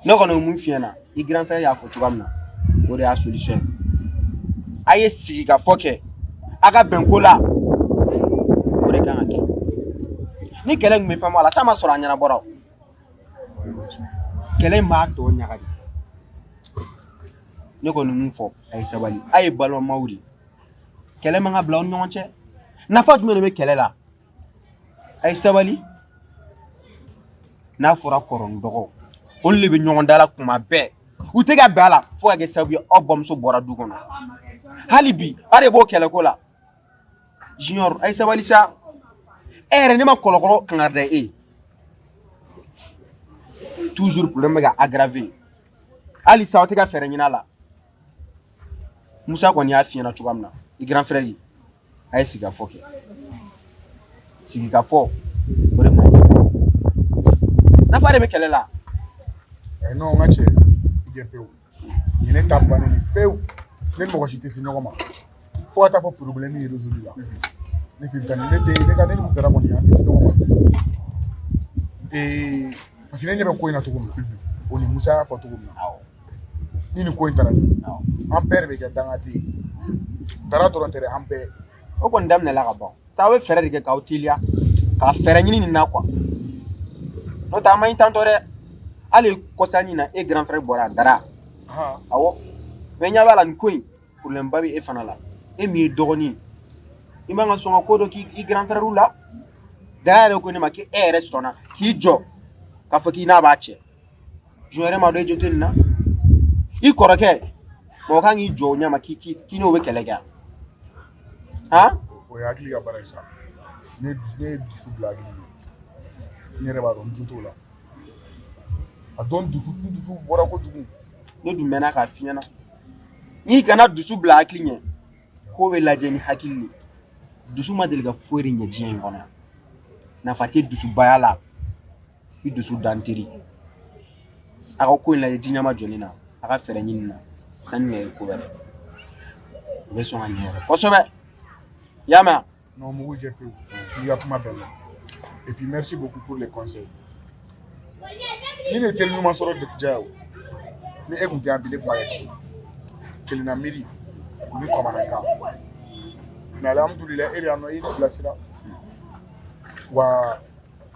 ne kɔni mun f'i ɲɛna i grand frère y'a fɔ cogoya min na o de y'a solution ye a ye sigi k'a fɔ kɛ a ka bɛn ko la o de kan ka kɛ ni kɛlɛ tun bɛ fɛn bɔ a la s'a ma sɔrɔ a ɲɛnabɔra o kɛlɛ in b'a tɔ ɲaga de ne kɔni mun fɔ a ye sabali a ye balimaw de kɛlɛ man ka bila aw ni ɲɔgɔn cɛ nafa jumɛn de bɛ kɛlɛ la a ye sabali n'a fɔra kɔrɔ ni dɔgɔ olu de bɛ ɲɔgɔn dala kuma bɛɛ u tɛ ka bɛn a la fo ka kɛ sababu ye aw bamuso bɔra du kɔnɔ hali bi a de b'o kɛlɛko la junior a ye sabali sa e yɛrɛ ne ma kɔlɔkɔlɔ kangari da e toujours problème bɛ ka aggraver hali sa aw tɛ ka fɛɛrɛ ɲini a la Musa kɔni y'a f'i ɲɛna cogoya min na i grand frère ye a ye sigikafɔ kɛ sigikafɔ o de ma nafa de bɛ kɛlɛ la eh, non n ka cɛ i jɛ pewu nin ne ta bannen ni pewu ne ni mɔgɔ si tɛ se ɲɔgɔn ma fo ka t'a fɔ problème ye résolu la ne tɛ taa ne tɛ ne ka ne ni dara kɔni an tɛ se ɲɔgɔn ma ee parce que ne ɲɛ bɛ ko in na cogo min na o ni Musa y'a fɔ cogo min na ni nin ko in taara an bɛɛ de bɛ kɛ dangaden ye dara dɔrɔn tɛ dɛ an bɛɛ o kɔni daminɛla ka ban sa aw bɛ fɛɛrɛ de kɛ k'aw teliya ka fɛɛrɛ ɲini nin na quoi n'o tɛ a man ɲi tantɔ dɛ hali kɔsanin na e grand frère bɔra dara han awɔ mais n ɲɛ b'a la nin ko in problème ba bɛ e fana la e min ye dɔgɔnin ye i man ka sɔn ka ko dɔ k'i grand frère la dara yɛrɛ ko ne ma k'e yɛrɛ sɔnna k'i jɔ k'a fɔ k'i n'a b'a cɛ jɔn yɛrɛ m'a dɔn e jo tɛ nin na i kɔrɔkɛ mɔgɔ kan k'i jɔ o ɲɛ ma k'i k'i n'o bɛ kɛlɛ kɛ han o ye hakili ka baara ye sa ne ne ye dusu bila hakili ɲɛ ne yɛrɛ b'a dɔn n jo t'o la a dɔn dusu dusu bɔra kojugu ne dun mɛnna k'a f'i ɲɛna n'i kana dusu bila hakili ɲɛ ko bɛ lajɛ ni hakili le dusu ma deli ka foyi de ɲɛ diɲɛ in kɔnɔ nafa tɛ dusubaya la i dusu da n teri a ka ko in lajɛ ɲɛmajɔlen na a ka fɛɛrɛ ɲini nin na sanni ka ye ko wɛrɛ o bɛ sɔn ka ɲɛ yɛrɛ kosɛbɛ i y'a mɛn non mugu jɛ pewu n'i ka kuma bɛɛ la et puis merci beaucoup pour les conseils nin ye teri ɲuman sɔrɔ de diya o ni e kun tɛ yan bi ne kun b'a kɛ kelennamiiri o ni kamanagan mais alhamdulilayi e de y'a nɔ i ye ne bilasira wa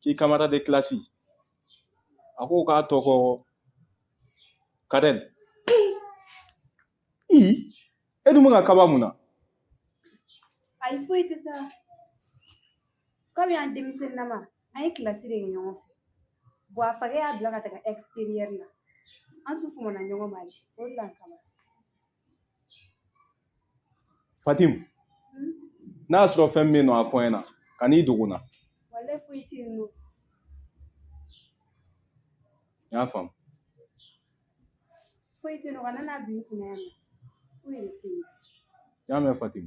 k'i camarade de classe a ko k'a tɔgɔ kadɛl i e dun bɛ ka kaba mun na ayi foyi tɛ sa kɔmi an denmisɛnninama an ye classe de kɛ ɲɔgɔn fɛ bon a fakɛ y'a bila ka taga extérieur la an tun famana ɲɔgɔn ma de o de la n kaba fatim n'a sɔrɔ fɛn bɛ yen nɔ a fɔ n ɲɛna kan'i dogo n na n y'a faamu foyi tɛ yen nɔ kan'a bil'i kunna yan foyi de tɛ yen n y'a mɛn fatim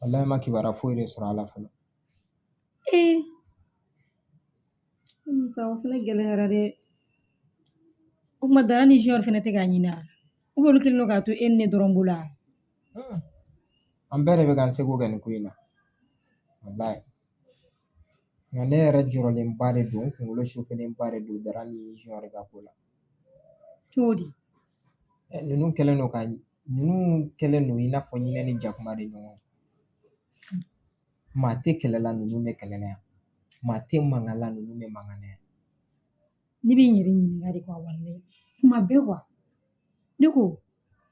wallahi ma kibaruya foyi de sɔrɔ a la fɔlɔ ee musa o fana gɛlɛyara dɛ o kuma dara ni junior fana tɛ k'a ɲini a ou bien olu kɛlen don k'a to e ni ne dɔrɔn bolo a Hmm. an bɛɛ de bɛ k'an seko kɛ nin ko in na wallahi nka ne yɛrɛ jɔrɔlenba de don n kunkolo chauffélenba de don dara ni junior ka ko la cogo di Eh, ninnu kɛlen don ka Ninnu kɛlen don i n'a fɔ ɲinɛ ni jakuma de ɲɔgɔn maa tɛ kɛlɛ la ninnu bɛ kɛlɛ la yan maa tɛ mankan la ninnu bɛ mankan na yan ne bɛ n yɛrɛ ɲininka de quoi walayi kuma bɛɛ quoi ne ko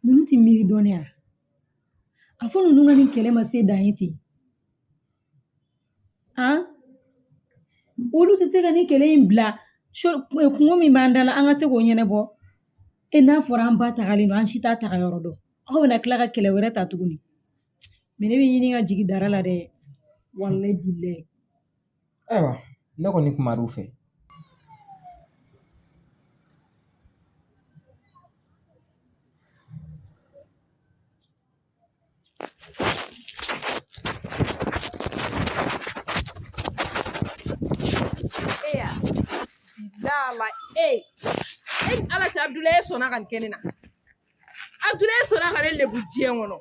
ninnu tɛ miiri dɔɔni a a fɔ ninnu ka nin kɛlɛ ma se dan ye ten Olu tɛ se ka nin kɛlɛ in bila kunko min b'an da la an ka se k'o ɲɛnabɔ e n'a fɔra an ba tagalen don an si t'a taga yɔrɔ dɔn aw bɛna tila ka kɛlɛ wɛrɛ ta tuguni mais ne bɛ ɲini ka jigin dara la dɛ walayi bilayi ayiwa ne kɔni kumar'u fɛ Dala e e ni ala cɛ abudulayi e sɔnna ka nin kɛ ne na abudulayi e sɔnna ka ne lebu diɲɛ kɔnɔ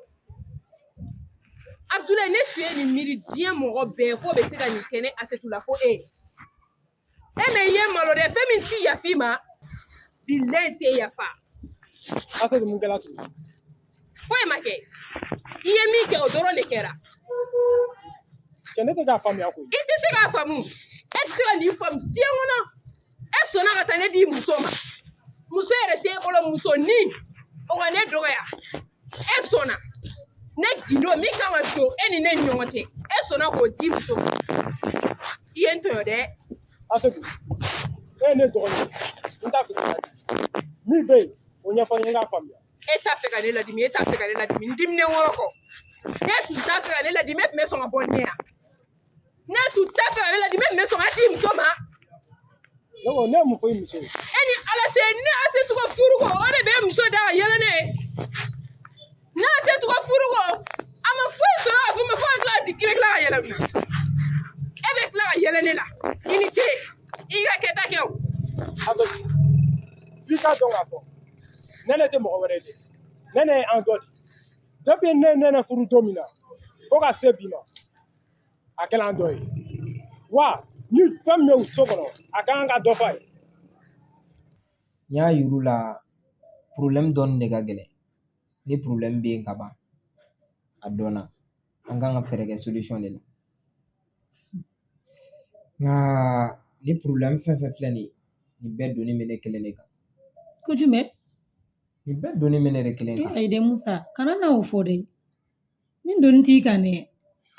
abudulayi ne tun ye nin miiri diɲɛ mɔgɔ bɛɛ k'o bɛ se ka nin kɛ ne asetu la fo e e mais i ye n malo dɛ fɛn min ti yaf'i ma bilayi tɛ yafa asetu mun kɛra tugun foyi ma kɛ i ye min kɛ o dɔrɔn de kɛra cɛ ne tɛ k'a faamuya koyi i tɛ se k'a faamu e tɛ se ka nin faamu diɲɛ kɔnɔ e sɔnna ka taa ne di muso ma muso yɛrɛ tɛ e bolo musonin o ka ne dɔgɔya e sɔnna ne gindo min kan ka don e ni ne ni ɲɔgɔn cɛ e sɔnna k'o di muso ma i ye n tɔɲɔ dɛ asetu e ye ne dɔgɔnin ye n t'a fɛ ka ladimi min bɛ yen o ɲɛfɔ n ye n k'a faamuya e t'a fɛ ka ne ladimi e t'a fɛ ka ne ladimi n diminen wɔrɔ kɔ n'e tun t'a fɛ ka ne ladimi e tun bɛ sɔn ka bɔ ne yan N'e tun t'a fɛ ka ne ladimi e tun bɛ sɔn ka di muso ma ne ye mun fɔ i muso ye e ni ala cɛ ne asetu ka furuko o de bɛ muso da ka yɛlɛ ne ne asetu ka furuko a ma foyi sɔrɔ ka fɔ n ma fo ka tila ka i bɛ tila ka yɛlɛ e bɛ tila ka yɛlɛ ne la i ni ce i ka kɛta kɛ o f'i k'a dɔn k'a fɔ nɛnɛ tɛ mɔgɔ wɛrɛ de nɛnɛ ye an dɔ de ye depuis ne nɛnɛ furu don min na fo ka se bi ma a kɛla an dɔ ye wa ni fɛn min bɛ u so kɔnɔ a ka kan ka dɔ f'a ye n y'a yir'u la problème dɔnni de ka gɛlɛn ni problème bɛ yen ka ban a dɔnna an kan ka fɛɛrɛ kɛ solution de la nka ni problème fɛn fɛn filɛ nin ye nin bɛɛ doni bɛ ne kelen de kan ko jumɛn nin bɛɛ doni bɛ ne de kelen kan ayi dɛ musa kana na o fɔ dɛ Nin doni t'i kan dɛ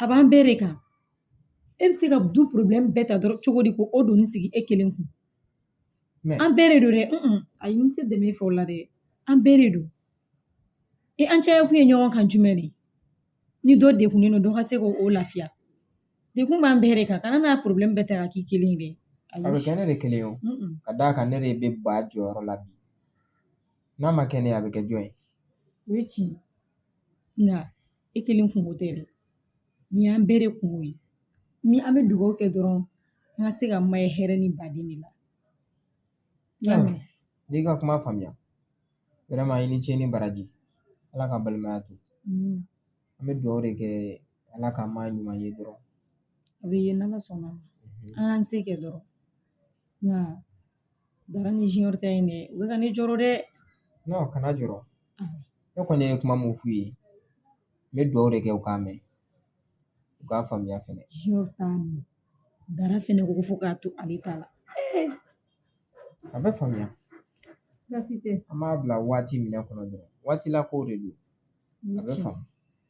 a b'an bɛɛ de kan e bɛ se ka du problème bɛɛ ta dɔrɔn cogo di ko o doni sigi e kelen kun an bɛɛ de don dɛ ayi n tɛ dɛmɛ fɛ la dɛ an bɛɛ de don an caya kun ye ɲɔgɔn kan jumɛn de ni dɔ degunnen don dɔ ka se k'o lafiya degun b'an bɛɛ de kan kana na problème bɛɛ ta ka k'i kelen ye dɛ a bɛ kɛ ne de kelen ye o ka d'a kan ne de bɛ ba jɔyɔrɔ la bi n'a ma kɛ ne ye a bɛ kɛ jɔn ye o ye tiɲɛ nka e kelen kunko tɛ dɛ nin y'an bɛɛ de kunko ye ni an bɛ dugawu kɛ dɔrɔn an ka se ka maa ye hɛrɛ ni baden de la n y'i ka kuma faamuya vraiment i ni ce ni baraji ala ka balimaya to mm. an bɛ dugawu de kɛ ala ka maa ɲuman ye dɔrɔn a bɛ ye n'ala sɔnn'a ma mhm. an k'an se kɛ dɔrɔn nka dara ni junior ta in dɛ u bɛ ka ne jɔrɔ dɛ non kana jɔrɔ ne kɔni ye kuma mun f'u ye n bɛ dugawu de kɛ u k'a mɛn u k'a faamuya fɛnɛ dara fɛnɛ ko fo k'a to ale ta la a bɛ faamuya an b'a bila waati min kɔnɔ dɔrɔn waati la kow de don a bɛ faamu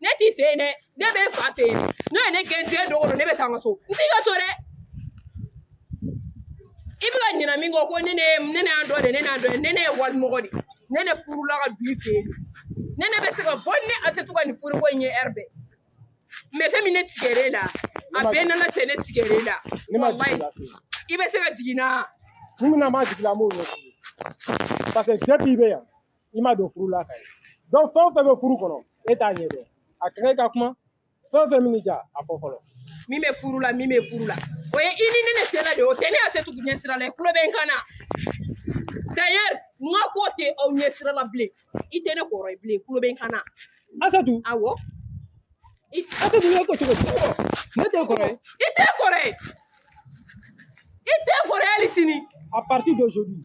ne t'i fɛ yen dɛ ne bɛ n fa fɛ yen n'o ye ne gɛn diɲɛ don o don ne bɛ taa n ka so n t'i ka so dɛ i bɛ ka ɲinɛ min kɔ ko ne ne ne ne y'an dɔ de ne n'an dɔ ye ne ne ye walimɔgɔ de ne ne furula ka du i fɛ yen ne ne bɛ se ka bɔ ni asetu ka nin furuko in ye heure bɛɛ mais fɛn min ne tigɛr'e la a bɛɛ nana cɛ ne tigɛr'e la ne ma jigin la fɛ i bɛ se ka jigin na kun min na n b'a jigin la n b'o ɲɛf'i ye parce que depuis i bɛ yan i ma don furu la ka ye donc fɛn o fɛn bɛ furu kɔnɔ e t'a ɲɛ dɔn a ka kan i ka kuma fɛn o fɛn min ja a fɔ fɔlɔ min bɛ furu la min bɛ furu la o ye i ni ne ne cɛla de o tɛ ne asetu ɲɛ sira la i tulo bɛ n kan na d'ailleurs n ka ko tɛ aw ɲɛ sira la bilen i tɛ ne kɔrɔ ye bilen i tulo bɛ n kan na asetu awɔ i asetu n ka ko cogo di ne t'i kɔrɔ ye i tɛ n kɔrɔ ye i tɛ n kɔrɔ ye hali sini à partir d'aujourd'hui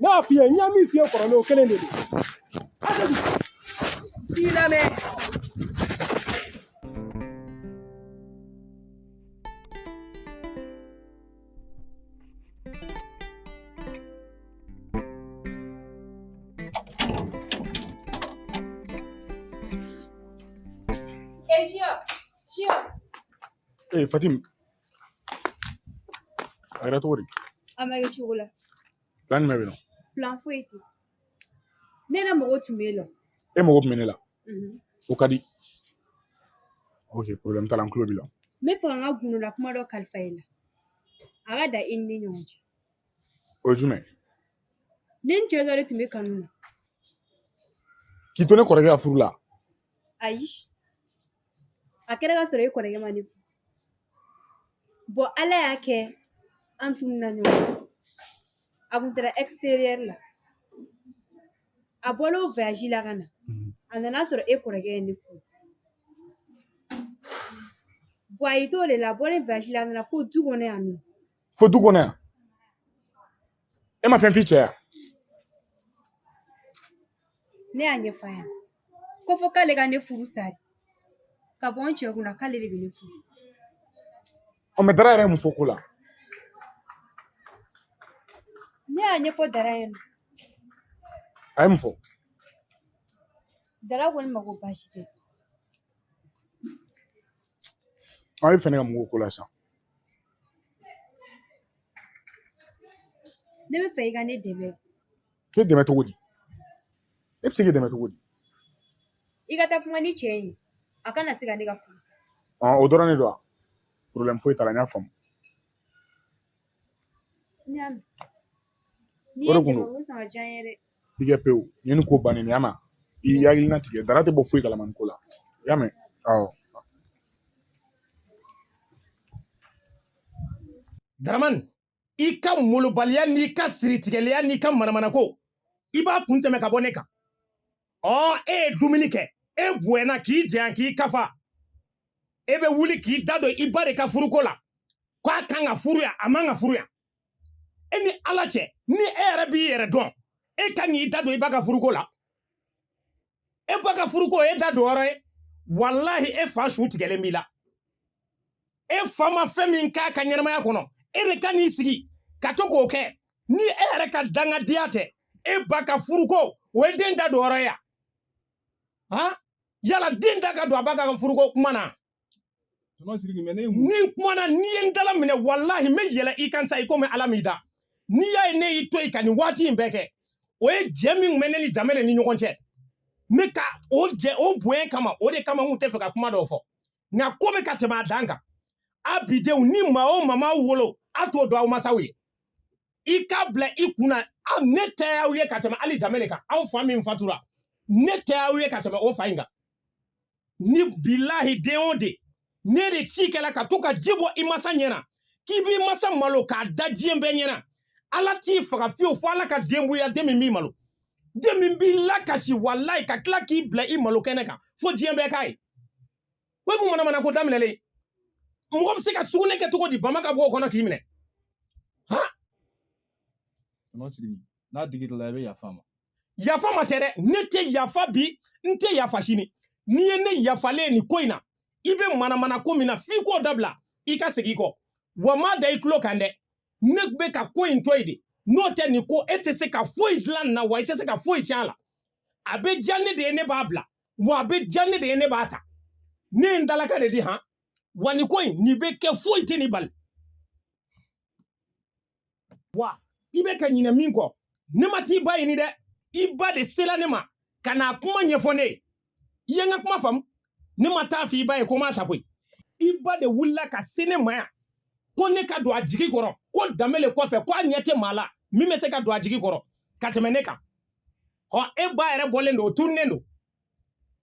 ne y'a f'i ye n ye min f'i ye kɔrɔlen o kelen de don k'i lamɛn Ee Fatim A kɛra cogo di? A ma kɛ cogo la. Plan jumɛn bɛ yen nɔ? Plan foyi tɛ yen. Ne yɛrɛ mago tun bɛ e la. E mago tun bɛ ne la. O ka di. Ok problème t'a la n tulo b'i la. N bɛ fɛ ka n ka gundola kuma dɔ kalifa e la. A ka dan e ni ne ɲɔgɔn cɛ. O ye jumɛn ye? Ne ni cɛ dɔ de tun bɛ kanu na. K'i to ne kɔrɔkɛ ka furu la? ayi a kɛra ka sɔrɔ e kɔrɔkɛ ma ne furu bɔn ala y'a kɛ an tununna ɲɔgɔn a kun taara exterieur la a bɔl'o voyage la ka na a nana sɔrɔ e kɔrɔkɛ ye ne furu bɔn a y'i t'o de la bɔlen voyage la a nana fo du kɔnɔ yan nɔ fo du kɔnɔ yan e ma fɛn f'i cɛ yan ne y'a ɲɛfɔ a ɲɛna ko fo k'ale ka ne furu sari ka bɔ n cɛ kunna k'ale de bɛ ne furu ɔ mɛ dara yɛrɛ ye mun fɔ ko la ne y'a ɲɛfɔ dara ye nɔ a ye mun fɔ dara ko ne ma ko baasi tɛ aw ye fɛ ne ka mun k'o ko la sisan Ne bɛ fɛ i ka ne dɛmɛ. K'e dɛmɛ cogo di? Ne bɛ se k'i dɛmɛ cogo di? I ka taa kuma ni cɛ in ye, a kana se ka ne ka furu sa. Ɔn o dɔrɔn de don wa? Problème foyi t'a la n y'a faamu. N y'a mɛn. N'i ye n dɛmɛ o bɛ sɔn ka diya n ye dɛ. i kɛ pewu ɲɛ nin ko bannen y'a ma i hakili latigɛ dara tɛ bɔ foyi kalama nin ko la i y'a mɛn awɔ daramani i ka molobaliya n'i ka siritigɛliya n'i ka manamanako i b'a kun tɛmɛ ka bɔ ne kan ɔ e ye dumuni kɛ e bonyana k'i janya k'i kafa e bɛ wuli k'i da don i ba de ka furuko la k'a kan ka furu yan a man ka furu yan e ni ala cɛ ni e yɛrɛ b'i yɛrɛ dɔn e ka kan k'i da don i ba ka furuko la e ba ka furuko e da don yɔrɔ ye walahi e fa su tigɛlen b'i la e fa ma fɛn min k'a ka ɲɛnamaya kɔnɔ e de ka n'i sigi ka to k'o kɛ ni e yɛrɛ ka dangadenya tɛ e ba ka furuko o ye den da don yɔrɔ ye yan han yala den da ka don a ba ka furuko kuma na Tɔnɔ Sidiki mais ne ye mun ni n kumana n'i ye n dala minɛ walahi n bɛ yɛlɛ i kan sa i komi Ala m'i dan n'i y'a ye ne y'i to yen ka nin waati in bɛɛ kɛ o ye jɛ min tun bɛ ne ni Danbɛlɛ ni ɲɔgɔn cɛ ne ka o jɛ o bonya kama o de kama n tun t'a fɛ ka kuma dɔw fɔ nka ko bɛ ka tɛmɛ a dan kan a bidenw ni maa o maa m'aw wolo a t'o dɔn aw masaw ye i k'a bila i kun na aw ne tɛ aw ye ka tɛmɛ hali Danbɛlɛ kan aw fa min fatura ne tɛ aw ye ka tɛmɛ o fa in kan ni bilahi den o den n'e de ci kɛla ka to ka ji bɔ i masa ɲɛna k'i b'i masa malo k'a da diɲɛ bɛɛ ɲɛna ala t'i faga fiyewu fo ala ka den bɔ i la den min b'i malo den min b'i lakasi walayi ka tila k'i bila i malo kɛnɛ kan fo diɲɛ bɛɛ k'a ye o ye mun manamana ko daminɛlen ye mɔgɔ bɛ se ka sugunɛ kɛ cogo di bama ka bɔ o kɔnɔ k'i minɛ han n'a digir'i la i bɛ yafa a ma yafa ma tɛ dɛ ne tɛ yafa bi n tɛ yafa sini n'i ye ne yafalen ye nin ko in na i bɛ manamana ko min na f'i k'o dabila i ka segin kɔ wa n b'a da i tulo kan dɛ ne bɛ ka ko in to yen de n'o tɛ nin ko e tɛ se ka foyi dilan nin na wa i tɛ se ka foyi tiɲɛ a la a bɛ diya ne de ye ne b'a bila wa a bɛ diya ne de ye ne b'a ta ne ye n dalakan de di han wa nin ko in nin bɛ kɛ foyi tɛ nin bali wa i bɛ ka ɲinɛ min kɔ ne ma t'i ba ɲini dɛ i ba de sela ne ma ka n'a kuma ɲɛfɔ ne ye i ye n ka kuma faamu ne ma taa f'i ba ye ko n b'a ta koyi i ba de wulila ka se ne ma yan ko ne ka don a jigi kɔrɔ ko Danbɛlɛ kɔfɛ ko a ɲɛ tɛ maa la min bɛ se ka don a jigi kɔrɔ ka tɛmɛ ne kan ɔ e ba yɛrɛ bɔlen don o tununnen don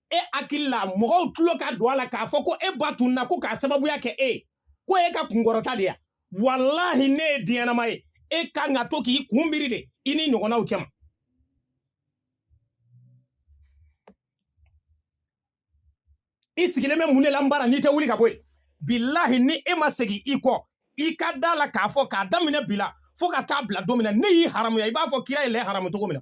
e hakili la mɔgɔw tulo ka don a la k'a fɔ ko e ba tununna ko k'a sababuya kɛ e ye ko e ka kunkɔrɔta de ya walahi n'e ye den ɲɛnama ye e kan ka to k'i kun biri de i ni ɲɔgɔnnaw cɛma i sigilen bɛ mun de la n bara n'i tɛ wuli ka bɔ yen bilahi ni e ma segin i kɔ i ka da a la k'a fɔ k'a daminɛ bi la fo ka taa bila don min na ne y'i haramuya i b'a fɔ kira ye lɛ haramu cogo min na